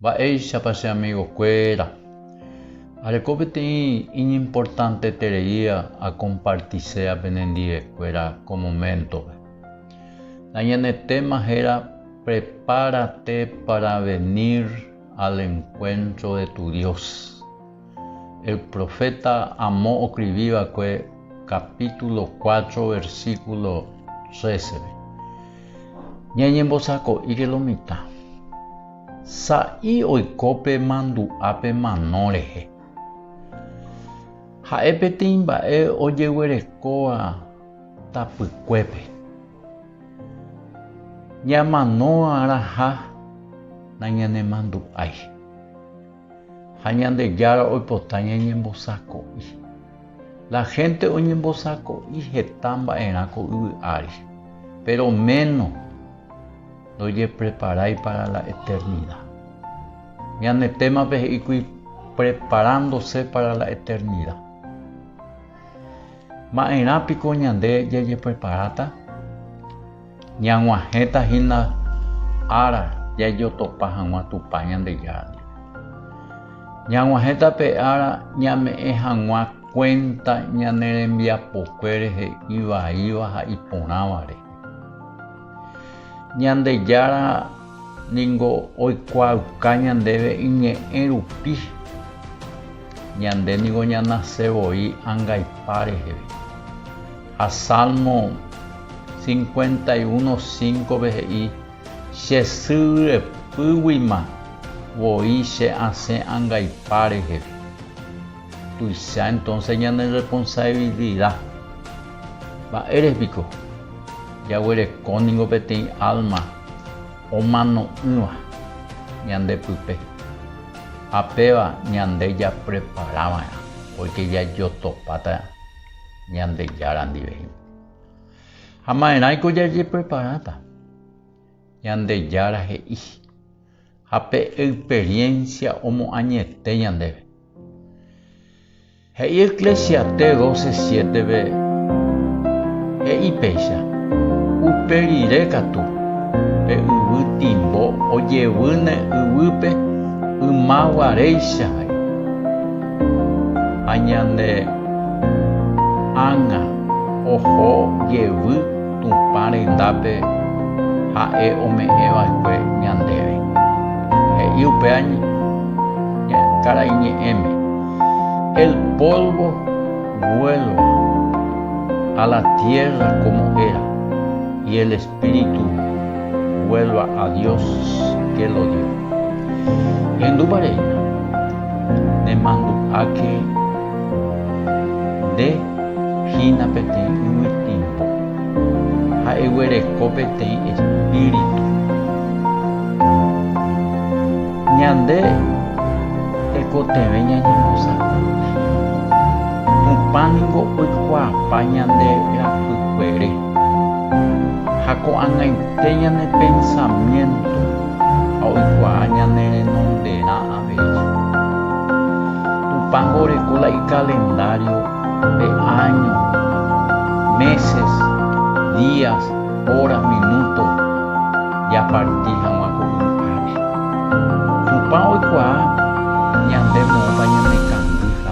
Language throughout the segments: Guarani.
Mba'éichapa che amigokuéra areko peteĩ iñimportanteterei akompartisea penendivekuéra ko moméntope? Nañanetéma héra Prepárate para venir al encuentro de tu Dios. El proféta Amo oskrivi va'ekue kapítulo cuatro versíkulo trésepe. Ñañembosako'íke lo mitã. Sa'i oiko pe mandu'a pe mano rehe. Ha'e peteĩ mba'e ojeguerekóva tapykuépe. Ñamanóva raha nañanemandu'ái. ha Ñandejára oipota ñañembosako'i. La hénte oñembosako'i heta mba'erã ko yvy ári, péro méno ndojepreparái pára la eternida. Ñane témape he'íkuri Preparándose pára la eternida. Ma'erã piko ñande jajepreparáta? Ñag̃uahẽta hína ára jajotopa hag̃ua Tupã Ñandejára ndive. Ñag̃uahẽta pe ára ñame'ẽ hag̃ua kuénta ñane rembiapokuére he'i vaíva ha iporãva rehe. Ñandejára ningo oikuaauka ñandéve iñe'ẽ rupi. Ñande ningo ñanase voi angaipa reheve. Ha Salmo 51, 5-pe he'i, Che sy ryepýguima voi che asẽ angaipa reheve. Tuicha entonce ñane irresponsabilidad. Mba'ére piko? Jaguereko ningo peteĩ alma omano'ỹva ñande pype, ha péva ñande japrepara va'erã, porque jajotopáta Ñandejára ndiveño. Ha maerãiko jajepreparáta? Ñandejára he'i, ha pe experiencia omoañete ñandéve. He'i Eclesiastés 12, 7-ve, he'i péicha, Upe rire katu, pe yvy timbo ojevýne yvýpe yma guaréicha ha'e, ha ñane ág̃a oho jevy Tupã rendápe Ha'e ome'ẽ va'ekue ñandéve. He'i upéva Karai Ñe'ẽme, El polvo vuelva a la tierra como era, y el espíritu vuelva a Dios que lo dio. Ihendúpa reína, nemandu'áke Nde hína peteĩ yvy tiémpo ha eguereko peteĩ espíritu. Ñande tekotevẽ ñañembosako'y. Tupã ningo oikuaapa ñande rapykuere ha ko'ag̃aite ñane pensamiénto ha oikuaa ñane renonderã. Péicha. Tupãngo oreko la ikalendario de áños, meses, días, horas, minutos japarti hag̃ua ko yvágape. Tupã oikuaa ñande moõpa ñanekandýva.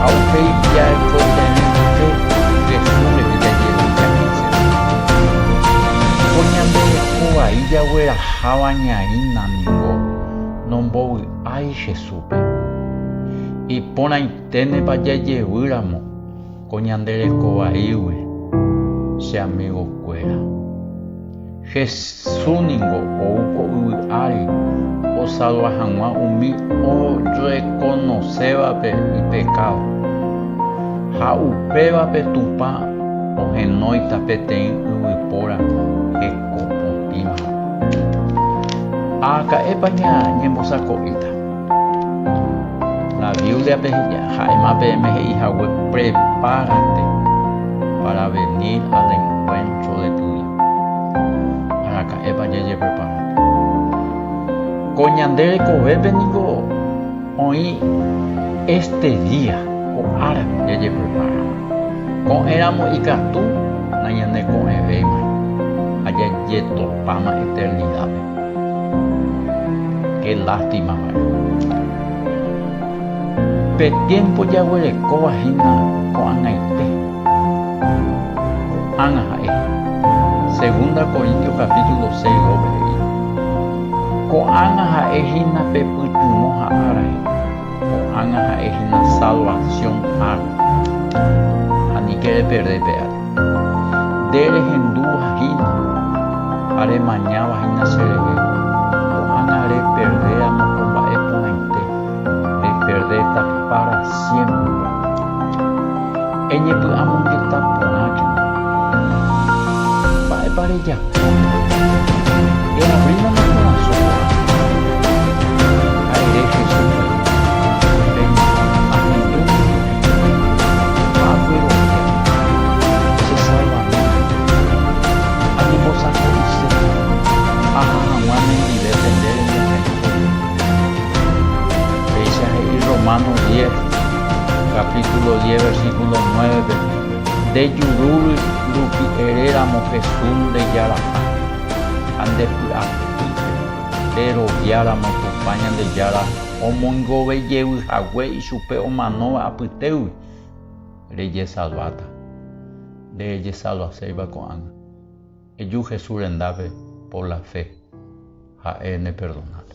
Ha upéi ja'eko peẽ mboty Jesús rehe jajerovia he'ise. Ko ñande reko vai jagueraháva ñaína ningo nombovy'ái Jesúspe. Iporãiténepa jajevýramo! Ko ñande reko vaígui, che amigo kuéra. Jesús ningo ou ko yvy ári osalva hag̃ua umi orekonosévape ipekádo. Ha upévape Tupã ohenóita peteĩ yvypóra heko potĩva. Aka'épa ñembosako'íta? La Bíbliape ha'éma peẽme he'i hague prepárate pára venir al enkuéntro de tu Dios. Araka'épa jajepreparáta? Ko ñande rekovépe ningo oĩ éste día, ko árape jajeprepara. Ko'ẽramo ikatu nañaneko'ẽvéima ha jajetopáma eternidápe. Qué lástima mba'e. Pe tiempo jaguerekóva hína ko'ag̃aite. Ko'ág̃a ha'e. Segunda Corintios capítulo seis rópe he'i, Ko'ág̃a ha'e hína pe pytyvõ ha ára he'i. Ko'ág̃a ha'e hína salvación ára. Ha ni kereperde pe ára. Nde rehendúva hína ha remañáva hína cherehe, ko'ág̃a reperde amo ko mba'e porãite, reperdéta pára siémpreva. Eñepy'amongeta porã kende. Mba'épa rejapo? Eavrílama korasõ porã ha ere Jesús rehe, Peña, ahendúnte. ha agueroviáta che salvamento, añembosako'ise aha hag̃ua nendivépe nde rembiasaitére. Péicha he'i Romano diez, capítulo diez, versículo nueve-pe, Nde juru rupi ere ramo Jesús nde Jaraha ha nde py'apy nde rovia ramo Tupã Ñandejára omoingovejevy hague Chupe omanóva apytégui rejesalváta, nderejesalvaséiva ko'ág̃a. Eju Jesús rendápe por la fe, ha'e neperdonáta.